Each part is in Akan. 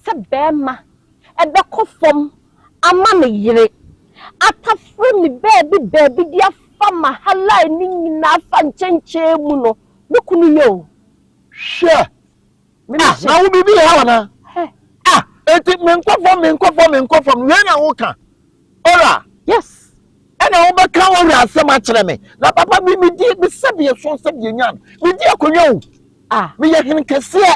sɛ bɛɛma ɛbɛkɔ fɔm ama me yere atafere me baabi baabi de afa ma halae no nyinaa fa nkyɛnkyɛn mu no me kunu yɛ o. Hwɛ ah na wo biribi ha ana ah enti menkɔ fɔm menkɔ fɔm menkɔ fɔm wei na wo ka ora. Yes. Ɛna wo bɛ ka ora asɛm akyerɛ me na papa bi me di me sɛdeɛ so sɛdeɛ nyan me di akonnwa o ah me yɛ hene kɛseɛ.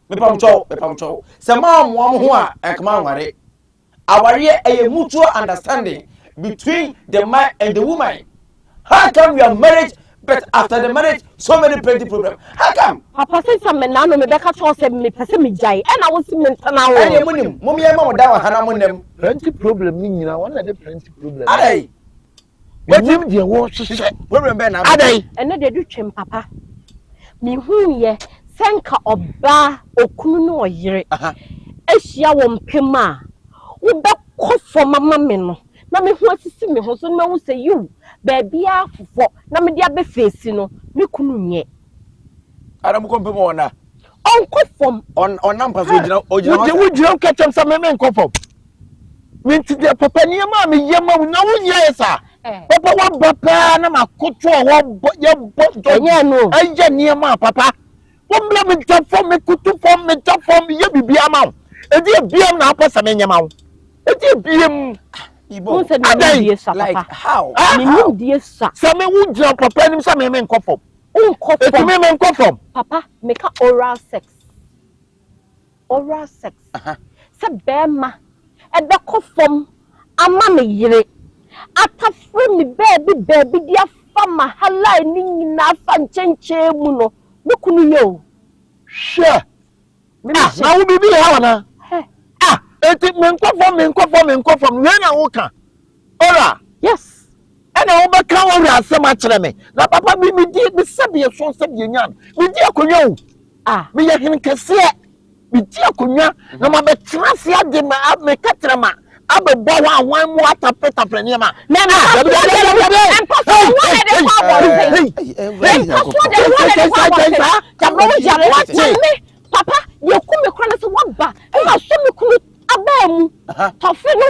Mepamkyɛw, mepamkyɛw, sɛ moammoa mo ho a anka moanware. Awareɛ ɛyɛ mutual understanding between the man and the woman. How come you are married but after the marriage so many plenty problem? How come? Papa se sɛ me nano mebɛka kyerɛ wo sɛ mepɛ sɛ megyae ɛna wo se mentena wo. Ɛneɛ monim, mom yɛmma mo dan wɔ ha na mo nnam. Plenty problem no nyina wɔn na ɛde plenty problem no. Adɛn? Wonim deɛ wɔrehyehyɛ. Problem bɛn na adɛn? Ɛno deɛ ɛdu twam papa. Mehuiɛ sɛ nka ɔbaa, okunu ne ɔyere ahyia wɔ mpɛ mu a, wobɛkɔ fam ama me no na me ho asisi me ho so na mahu sɛ yiw, baabiara fofɔ na mede abɛfeesi no, me kunu nyɛ. Ara mokɔ mpɛ mu a ɔnna? Ɔnkɔ fam. Ɔnna mpa so, ogyina hɔ saa. Wogyina wo kɛkyɛm sɛ me menkɔ fam. Me nti deɛ papa nneɛma a meyɛ ma wo na wonyɛɛ sa eh. papa waba paa na makoto a wɔbɔ yɛbɔ dɔgye ɛyɛ nneɛma a papa wɔmmla meda fam mekoto fam meda fam yɛ biribiara ma wo ɛdi ebiam na apɛ sɛ menyɛ ma wo ɛdi ebiam adɛn sɛ me wo gyina papa anim sɛ me me nkɔ fam ɛtumi me nkɔ fam papa meka oral sex oral sex, sɛ barima bɛkɔ fam ama me yere, atafere me baabi baabi de afa m'ahalae no nyinaa afa nkyɛnkyɛn mu no, me kunu yɛ o. Hwɛ! Ah, na wo biribi yɛ hɔ anaa? Ah, enti menkɔ fam, menkɔ fam, menkɔ fam, wei na woka? Ora, Yes, ɛna wo bɛ ka Ora asɛm akyerɛ me, na papa me me di, me sɛ deɛ sɔn sɛ deɛ nyan, me di akonwa o, ah, me yɛ hene kɛseɛ, me di akonwa, na ma bɛ tena ase ade ma, a, me kɛtɛrɛ ma, a bɛ bɔ hɔ ahwan mu a tapre tapre nneɛma. Na ɛna ah, dabi, dabi, dabi, dabi, dabi, ɛmpa so de wɔn na ɛde kɔ abɔnten, ɛmpa so de wɔn na ɛde kɔ abɔnten, dabere wo gyare, mami, papa, deɛ ɛku me kora ne sɛ wɔn ba, ɛna so me kunu abaa mu, tɔfe no.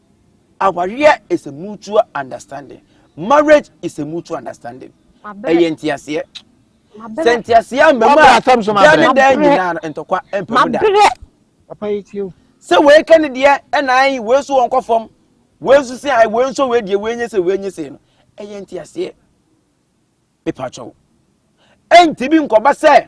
Awareɛ is a mutual understanding. Marriage is a mutual understanding. Ɛyɛ nteaseɛ. Sɛ nteaseɛ ama mu a, daa ne daa nyinaa no, ntɔkwa mpa mu da. Sɛ wei ka ne deɛ ɛna ayi, wei nso wɔn kɔ fam, wei nso sɛ ayi, wei nso wei deɛ wei nye sɛ wei nye sɛ no, ɛyɛ nteaseɛ. Mepa kyɛw. Ɛntumi nkɔba sɛ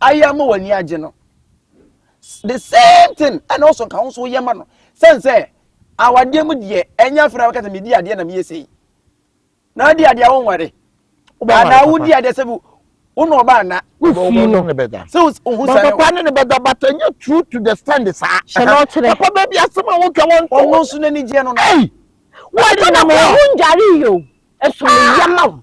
ayɛ ama w'ani agye no the same thing ɛna ɔsɔ nka nso yɛ ma no sɛn sɛ awadeɛ mu deɛ ɛnyɛ afei na wakasa medi adeɛ na meyɛ sei na adi adeɛ wo nware anaa wodi adeɛ sɛ bi wo na ɔba ana wofi no sɛ wohu sɛ papa ne ne bɛda but ɛnyɛ true to the stand saa hyɛ na ɔkyerɛ papa baabi asɛm a wotwa wɔn to ɔno nso n'ani gyeɛ no no wɔde na mo ho ndware yio ɛso ne yɛ ma wo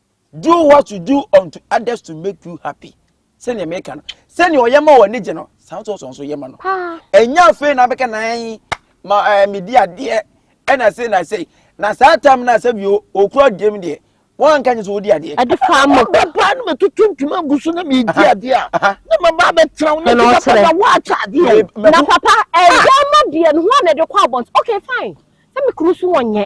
do what you do unto others to make you happy sɛnea meka no sɛnea ɔyɛ ma wɔ ne gye no saa nso ɔsɔ nso yɛ ma no ɛnya afei na abɛka nan ma ɛɛ eh, medi adeɛ ɛna se na se na saa tam na asɛ bi okura deɛ mu deɛ wɔn anka nye sɛ wɔdi adeɛ. ɛde fa mo. ɔbɛ paa no mɛtutu ntoma agu so na mɛdi adeɛ a na ma ba bɛ tena wo na ti papa na wɔakyɛ adeɛ o. na papa ɛgya ma deɛ no ho a na ɛde kɔ abɔnten okay fine sɛ mi kuru so wɔn nyɛ.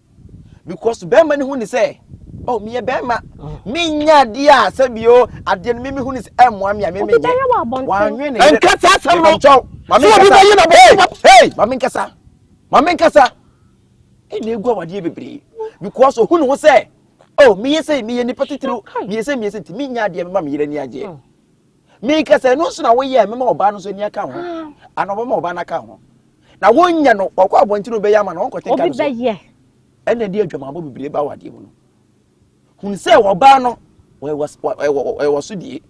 because bɛrima no hu ne sɛ oh meyɛ bɛrima menya adeɛ a sɛbio adeɛ no meme hu ne sɛ ɛmmoa me a meme nyɛ wanwe ne yere nkasa asɛm no nkyɛw mame nkasa hey mame nkasa mame nkasa ɛna egu awadeɛ bebree because ohu ne ho sɛ oh meyɛ sɛ meyɛ nipa titiriw meyɛ sɛ meyɛ sɛ nti menya adeɛ mema me yere ani agyeɛ meka sɛ ɛno nso na woyɛ mɛma ɔbaa no nso ani aka ho ana ɔbɛma ɔbaa no aka ho na wonyɛ no ɔkɔ abɔnten no bɛyɛ ama no ɔnkɔte nka no so ɛna ɛde adwamabɔ bebree ba wadeɛ mu no hun sɛ ɔbaa no ɛwɔ so die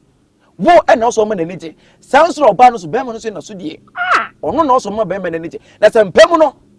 wo ɛna ɔsɔ ɔma n'ani gye saa nso na ɔbaa no so bɛrima no so na so die ɔno na ɔsɔ ɔma bɛrima n'ani gye na sɛ mpɛ mu no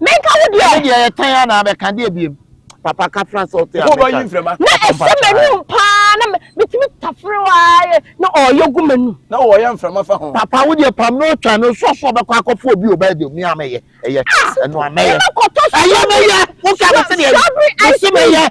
Menka wo deɛ. Ɛne deɛ yɛ tan anaa bɛka deɛ biem. Papa ka fra sɛ ɔte America. Ɔkɔ bɔ yi mfrɛma. Na ɛsɛ m'anum paa na metumi tafere waa na ɔyɛ gu m'anum. Na ɔyɛ mfrɛma fa ho. Papa wo deɛ pam na ɔtwa no sɔ so ɔbɛkɔ akɔfo obi ɔba ɛdeɛ mi a mɛyɛ ɛyɛ ɛno a mɛyɛ. Ɛyɛ mɛyɛ wo ka me sɛ deɛ ɛyɛ. Ɛsɛ mɛyɛ.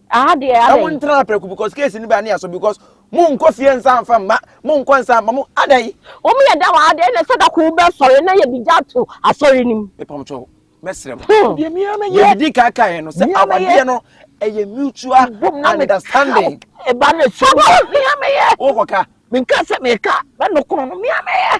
Aha deɛ adɛn. Ɛmu ntena aprɛko because case ni baa ne aso because mo nkɔ fie nsa nfa mma mo nkɔ nsa mma mo adɛn. Wɔn yɛ da wɔ ha deɛ na sɛ dako wo bɛ sɔre na yɛ de gya to asɔre nim. Mepamkyɛw mɛsrɛ mo. Hmm. Deɛ mia mɛyɛ. Deɛ didi kan kan yɛ no sɛ awadeɛ no ɛyɛ mutual understanding. Ɛba ne so mia mɛyɛ. Wokɔ ka. Menka sɛ meka bɛ no kono no mia mɛyɛ.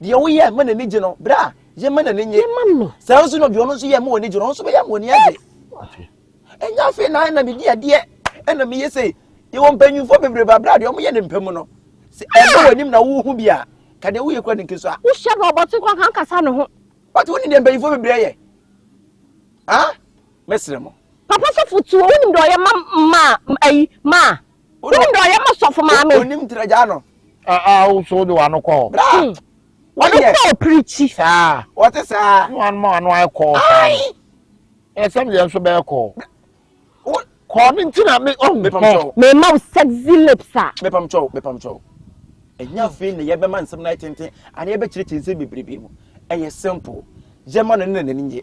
deɛ woyɛ ma n'ani gye no bra yɛ ma n'ani nye saa nso na deɛ ɔno nso yɛ ma w'ani gye no ɔno nso bɛyɛ ma w'ani agye ɛnyɛ afei na ɛna medi adeɛ ɛna meyɛ sei yɛwɔ mpanyinfoɔ bebrebe abira deɛ wɔyɛ ne mpɛ mu no sɛ ɛbɛ wɔ anim na wohu bi a ka deɛ woyɛ kura ne nkeso a. wohyɛ no ɔbɔten kora kan kasa ne ho. wate wo ne deɛ mpanyinfoɔ bebree yɛ ah mɛsrɛ mo. papa sɔfo tuo wonim deɛ ɔyɛ ma ma ayi ma Wone dɔ yɛ mo sɔfo maame. Onim tira gyaa no. Ah ah wo so wode w'ano kɔ hɔ. Bra. Ɔno kɔ a ɔpirikyi. Saa. Ɔte saa. Ne wɔn ma w'ano ayɛ kɔɔ saa no. Ɛɛ sɛm deɛ nso bɛyɛ kɔɔ. Kɔɔ ne nti na me ɔhu. Mepam kyɛw. Mema wo sexy lips a. Mepam kyɛw mepam kyɛw. Ɛnyɛ afei na yɛbɛma nsɛm no ayɛ tenten anaa yɛbɛkyerɛkyerɛ nsɛm bebrebe mu. Ɛyɛ simple. Yɛma no ne na n'ani nye.